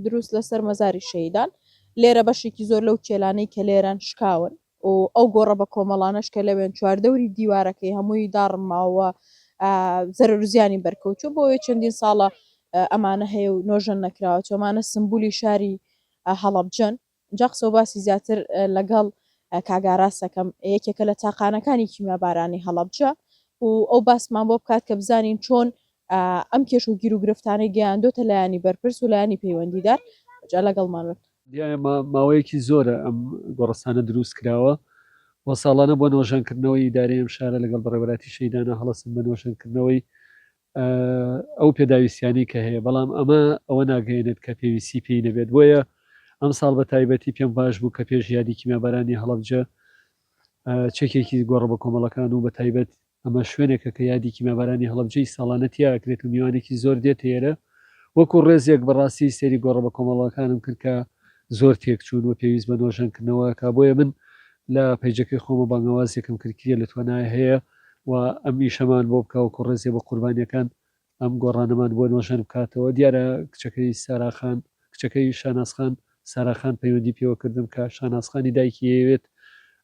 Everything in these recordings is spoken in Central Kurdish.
دروست لەسەر مەزاری شەهیدان، لێرە بەشێکی زۆر لەو کێلانەی کە لێرەن شکاون و ئەو گۆڕە بەکۆمەڵانەش کە لەوێن چواردەوری دیوارەکەی هەمووی داڕم ماوە و زەرەرو زیانی بەرکەوتووە، بۆیە چەندین ساڵە ئەمانە هەیە و نۆژەن نەکراوە، چۆمانە سمبولی شاری هەڵەبجەن. جا قسەو باسی زیاتر لەگەڵ کاک ئاراس ئەکەم یەکێکە لە تاقانەکانی کیمیابارانی هەڵەبجە و ئەو باسمان بۆ بکات کە بزانین چۆن ئەم کێش و گیروگرفتانەی گەیاندۆتە لایەنی بەرپرس و لایەنی پەیوەندیدار جا لەگەڵمان بن. دیارە ماوەیەکی زۆرە ئەم گۆڕستانە دروست کراوە و ساڵانە بۆ نۆژەنکردنەوەی ئیدارەی ئەم شارە لەگەڵ بەڕێوەراتی شەیدانا هەڵەسن بە نۆژەنکردنەوەی ئەو پێداویستیانەی کە هەیە، بەڵام ئەمە ئەوە ناگەیەنێت کە پێویستی پێی نەبێت، بۆیە ئەمساڵ بە تایبەتی پێم باش بوو کە پێش یادی کیمیابارانی هەڵەبجە چەکێکی گۆڕە بەکۆمەڵەکان و بە تایبەت ئەمە شوێنێکە کە یادی کیمیابارانی هەڵەبجەی ساڵانە تیا ئەکرێت و میوانێکی زۆر دێتە ئێرە، وەکو ڕێزێک بەڕاستی سەیری گۆڕە بەکۆمەڵەکانم کرد کە زۆر تێکچوون و پێویست بە نۆژەنکردنەوە ئەکا، بۆیە من لە پەیجەکەی خۆمە بانگەوازێکم کرد کێ لە توانای هەیە و ئەم ئیشەمان بۆ بکا وەکو ڕێزێ بۆ قوربانیەکان ئەم گۆڕانەمان بۆ نۆژەن بکاتەوە دیارە کچەکەی سارا خان کچەکەی شاناز خان سارا خان پەیوەندی پێوە کردم کە شاناز خانی دایکی ئەیەوێت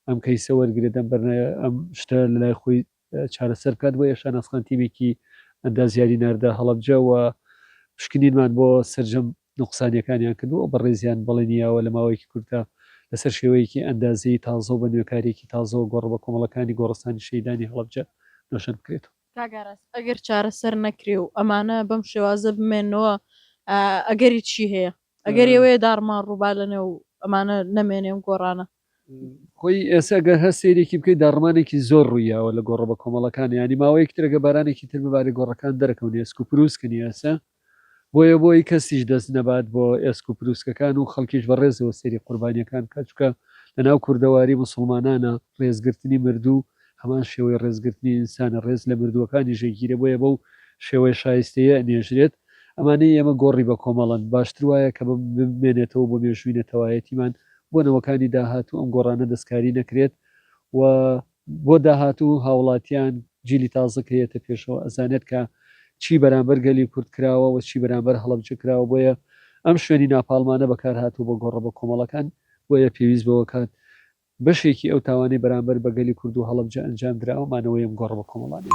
ئەم کەیسە وەرگرێت ئەم بەرنە ئەم شتە لەلای خۆی چارەسەر بکات بۆیە شاناز خان تیمێکی ئەندازیاری ناردە هەڵەبجە و پشکنینمان بۆ سەرجەم نوقسانیەکانیان کردووە و بەڕێزیان بەڵێنی یاوە لە ماوەیەکی کورتدا لەسەر شێوەیەکی ئەندازەیی تازە و بە نوێکاریەکی تازەوە گۆڕە بە کۆمەڵەکانی گۆڕستانی شەهیدانی هەڵەبجە نۆژەن بکرێتەوە. کاک ئاراس ئەگەر چارەسەر نەکرێ و ئەمانە بەم شێوازە بمێنەوە ئەگەری چی هەیە؟ ئەگەری ئەوەیە داڕمان ڕووبار لەنێو ئەمانە نەمێنێ ئەم گۆڕانە؟ خۆی ئێستا گەر هەر سەیرێکی بکەی داڕمانێکی زۆر ڕوویاوە لە گۆڕە بەکۆمەڵەکان یانی ماوەیەکی تر گە بارانێکی تر ببارێ گۆڕەکان دەرەکەون ئێسک و پرووسکنی ئێستا بۆیە بۆی کەسیش دەست نەبات بۆ ئێسک و پرووسکەکان و خەڵکیش بە ڕێزەوە سەیری قوربانیەکان کە چکە لە ناو کوردەواری مسلمانانە ڕێزگرتنی مردوو هەمان شێوەی ڕێزگرتنی ئینسانە، ڕێز لە مردووەکانیش ئەگیرێ، بۆیە بەو شێوەیە شایستەیە ئەنێژرێت. ئەمانەی ئێمە گۆڕی بە کۆمەڵەن، باشتر وایە کە بمێنێتەوە بۆ مێژووی نەتەوایەتیمان، بۆ نەوەکانی داهاتوو ئەم گۆڕانە دەستکاری نەکرێت و، بۆ داهاتوو هاوڵاتیان، جیلی تازە کە یێتە پێشەوە ئەزانێت کە چی بەرامبەر گەلی کورد کراوە و چی بەرامبەر هەڵەبجە کراوە، بۆیە ئەم شوێنی ناپاڵمانە بەکارهاتووە بۆ گۆڕە بە کۆمەڵەکان، بۆیە پێویست بەوە کات بەشێکی ئەو تاوانەی بەرامبەر بە گەلی کورد و هەڵەبجە ئەنجام دراوە، مانەوەی ئەم گۆڕە بەکۆمەڵانەیە.